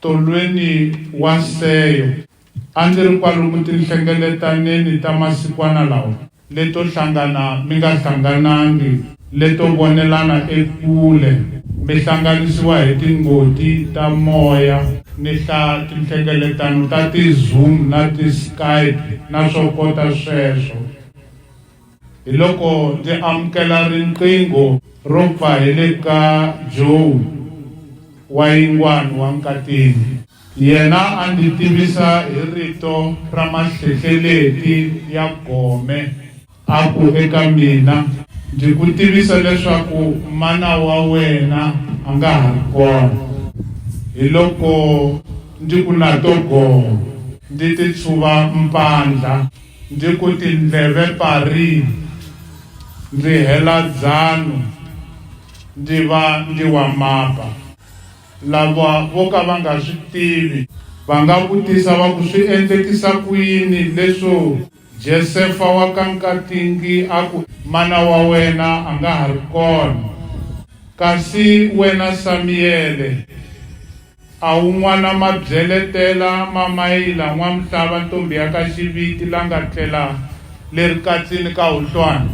Tolweni wa Seyo. A ndzi ri kwalomu tinhlengeletaneni ta masikwana lawa, leto hlangana mi nga hlanganangi, leto vonelana ekule, mi hlanganisiwa hi tingoti ta moya, ni hla tinhlengeletano ta ti-Zoom na ti-Skype na swo kota sweswo. Hiloko ndzi amukela riqingho ro pfa hi le ka Joe wa yingwani wa Nkatini. Yena a ndzi tivisa hi rito ra mahlehleleti ya gome. A ku eka mina, Ndzi ku tivisa leswaku mana wa wena a nga ha ri kona. Hiloko ndzi ku na to gome, ndzi titshuva mpandla. Ndzi ku tindleve parini, ndzi hela dzanu, ndzi va ndzi wa mapa. Lava vo ka va nga swi tivi. Va nga vutisa va ku, Swi endlekisa ku yini leswo Jesefa wa ka Nkatingi a ku, Mana wa wena a nga ha ri kona, kasi wena Samiyele, A wu n'wana mabyeletela ma mayila n'wamhlava ntombi ya ka Xiviti la nga tlela le rikatsini ka Huhlwana?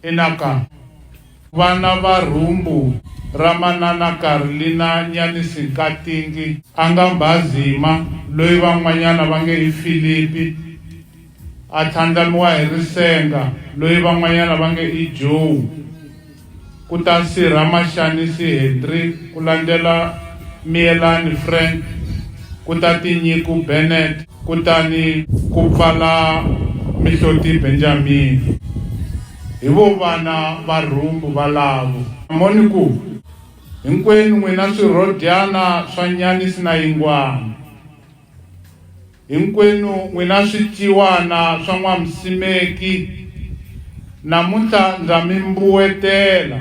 Ina ka. Vana va rhumbu ra manana Karlina Nyanisi Nkatingi a nga Mbhazima loyi van'wanyana va nge i Filipi A tlhandlamiwa hi risenga, loyi van'wanyana va nge i Joe, ku ta Sirha Mashanisi Hendrick, ku landzela Miyelani Frank, ku ta Tinyiku Bennett, kutani ku pfala Mihloti Benjamini. Hi vo vana va rhumbu valavo. Moni ku hinkwenu n'wina swirhodyana swa Nyanisi na Yingwana. Hinkwenu n'wina swiciwana swa N'wamsimeki, namuntlha ndza mi mbuwetela.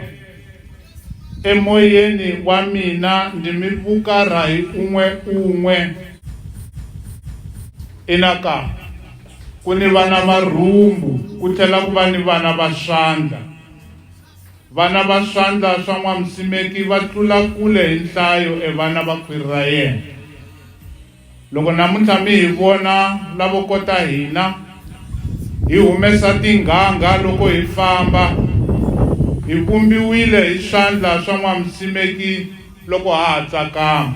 Emoyeni wa mina ndzi mi vukarha hi un'we un'we. Ina ka, ku ni vana va rhumbu ku tlhela ku va ni vana va swandla. Vana va swandla swa N'wamsimeki va tlula kule hi nhlayo e vana va khwiri ra yena. Loko namuntlha mi hi vona lavo kota hina, hi humesa tinghangha loko hi famba, hi vumbiwile hi swandla swa N'wamusimeki loko ha ha tsakama.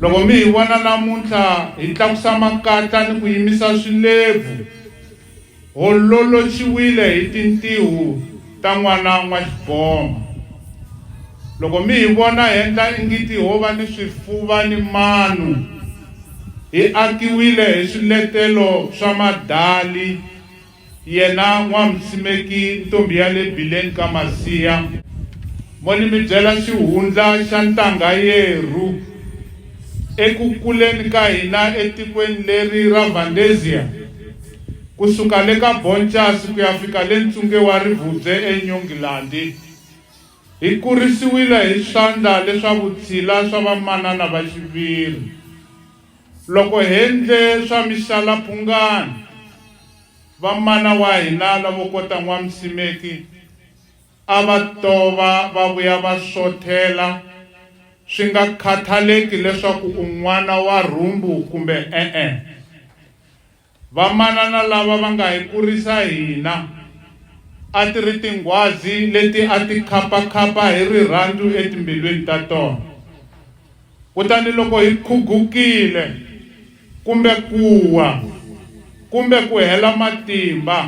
Loko mi hi vona namuntlha hi tlakusa makatla ni ku yimisa swilevu, Hololoxiwile hi tintihu ta N'wana N'waxiboma. Loko mi hi vona hendla ingiti ho va ni swifuva ni manu, hi akiwile hi swiletelo swa madali, yena N'wam'simeki ntombi ya le bileni ka Masiya, mo ni mi byela xihundla xa ntangha yeru. Eku kuleni ka hina etikweni leri ra Vhandeziya, Ku suka le ka Boncasi ku ya fika le ntsunge wa Rivubye eNyongilandi, hi kurisiwile hi swandla leswa vutshila swa vamanana va xiviri. Loko hendle swa mixala-phungana, va mana wa hina lavo kota N'wamsimeki a va tova va vuya va xothela, swi nga khathaleki leswaku u n'wana wa rhumbu kumbe e-e. Vamanana lava va nga hi kurisa hina a ti ri tinghwazi leti a ti khapa-khapa hi rirhandzu etimbilwini ta tona. Kutani loko hi khugukile, kumbe ku wa, kumbe ku hela matimba,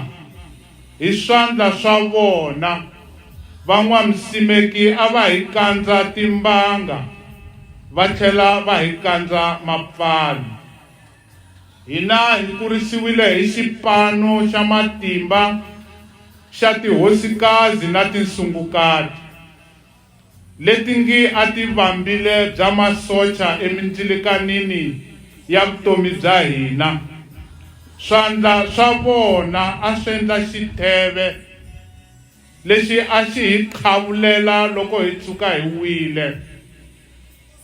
hi swandla swa vona van'wamsimeki a va hi kandza timbanga va tlhela va hi kandza mapfalo. Hina hi kurisiwile hi xipano xa matimba xa tihosikazi na tinsungukati, leti ngi a ti vambile bya masocha emindzilikanini ya vutomi bya hina. Swandla swa vona a swendla xitheve lexi a xi hi qhavulela loko hi tshuka hi wile.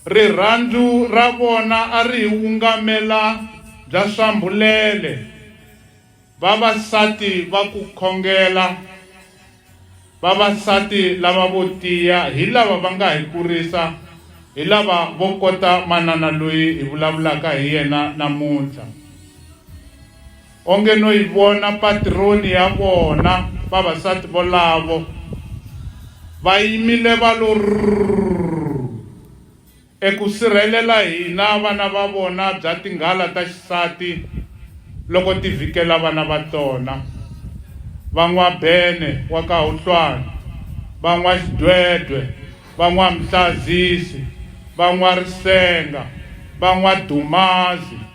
Rirhandzu ra vona a ri hi wungamela bya swambhulele, vavasati va ku khongela, vavasati lava vo tiya hi lava va nga hi kurisa, hi lava vo kota manana loyi hi vulavulaka hi yena namuntlha. Onge no yi vona patironi ya vona, vavasati volavo va yimile va lo rrrrrrrr eku sirhelela hina vana va vona bya tinghala ta xisati loko ti vhikela vana va tona. Va N'wabene wa ka Huhlwana, va N'waxidwedwe, va N'wamhlazisi, va N'warisenga, va N'wadumazi,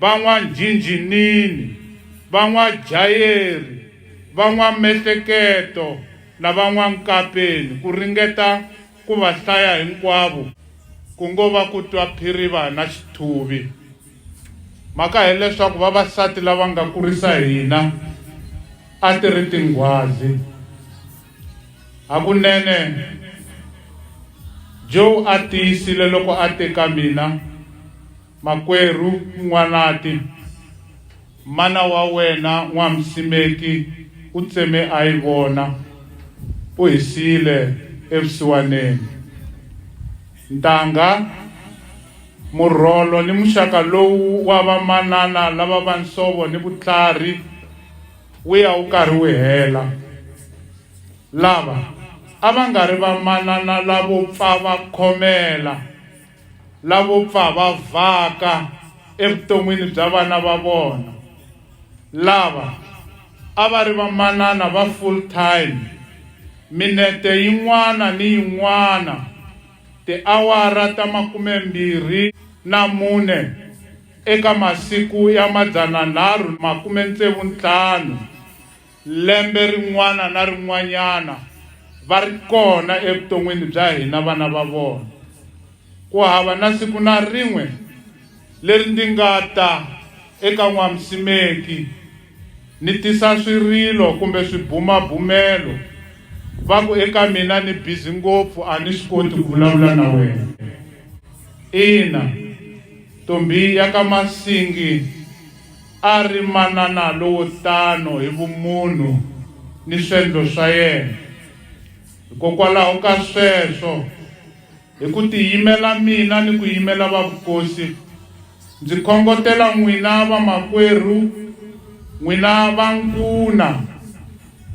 van'wanjhinjhinini, van'wajayeri, van'wamehleketo na van'wankapeni ku ringeta ku va hlaya hinkwavo ku ngo va ku twa phiriva na xithuvi. Mhaka hi leswaku vavasati lava nga kurisa hina a ti ri tinghwazi. Hakunene, Joe a tiyisile loko a te ka mina, Makwerhu N'wanati, mana wa wena N'wamsimeki u tseme a yi vona, u hi siyile evusiwaneni. Ntangha, murholo ni muxaka lowu wa vamanana lava va nsovo ni vutlhari wu ya wu karhi wu hela. Lava a va nga ri vamanana lavo pfa va khomela. lavo pfa va vhaka evuton'wini bya vana va vona lava a va ri vamanana va full time minete yin'wana ni yin'wana tiawara ta makumembirhi na mune eka masiku ya madzananharhu makume-ntsevu-ntlhanu Lembe rin'wana na rin'wanyana va ri kona evuton'wini bya hina vana va vona. Ku hava na siku na rin'we leri ndi nga ta eka N'wamusimeki ni tisa swirilo kumbe swibumabumelo va ku eka mina, Ni bizi ngopfu a ni swi koti ku vulavula na wena. Ina, Ntombi ya ka Masingi. A ri manana lowo tano hi vumunhu ni swendlo swa yena. Hikokwalaho ka sweswo, hi ku tiyimela mina ni ku yimela vavukosi, ndzi khongotela n'wina vamakwerhu, n'wina vankuna,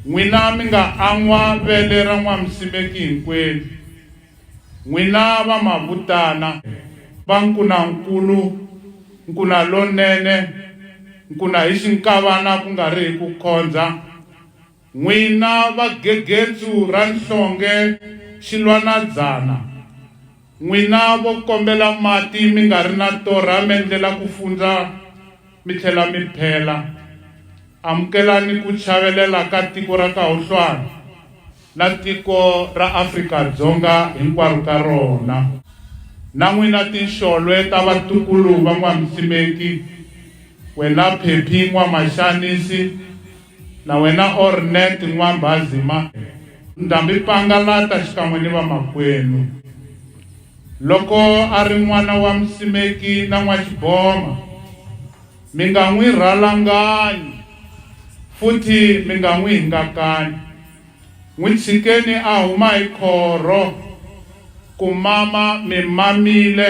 n'wina mi nga an'wa vele ra N'wamsimeki hinkwenu, N'wina va mavutana va nkunankulu, nkuna lonene, nkuna hi xinkavana ku nga ri hi ku khondza, n'wina va gegetsu ra nhlonge xilwanadzana, n'wina vo kombela mati mi nga ri na torha m'endlela ku fundza, Mi tlhela mi phela. Amukelani ku chavelela ka tiko ra Kahuhlwana na tiko ra Afrika Dzonga hinkwaro ka rona. Na n'wina tinxolwe ta vatukulu va N'wamsimeki, Kwela Phephi N'wamaxanisi, Na wena Ornette N'wambhazima, Ndhambi Pangalata xikan'we ni vamakwenu. Loko a ri n'wana wa musimeki na n'waxiboma, mi nga n'wi rhalanganyi futhi mi nga n'wi hingakanyi. N'wi tshikeni a huma hi khorho ku mama mi mamile.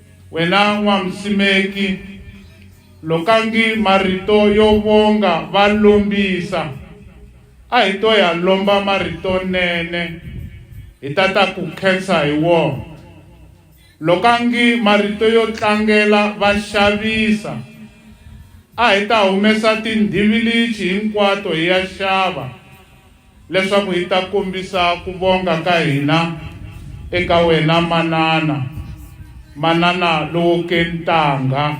Wena N'wamusimeki, lokangi marito yo vonga va lombisa, a hi to ya lomba marito nene, hi ta ta ku khensa hi wona. Lokangi marito yo tlangela va xavisa, a hi ta humesa tindhivilichi hinkwato hi ya xava, leswaku hi ta kombisa ku vonga ka hina eka wena manana, manana lowo kentangha,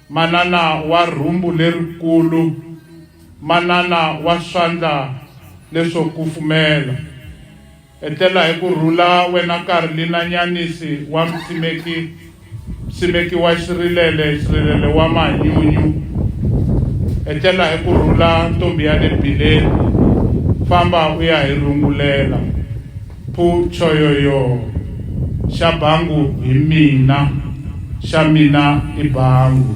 manana wa rhumbu lerikulu, manana wa swandla leswo kufumela. Etlela hi ku rhula, wena Karli na Nyanisi wa Msimeki, Msimeki wa Xirilele, Xirilele wa Mahanyunyu. Etlela hi ku rhula, ntombi ya le Bileni, famba u ya hi rungulela. Phu, Choyoyoo! Xa Bangu hi mina, xa mina i Bangu.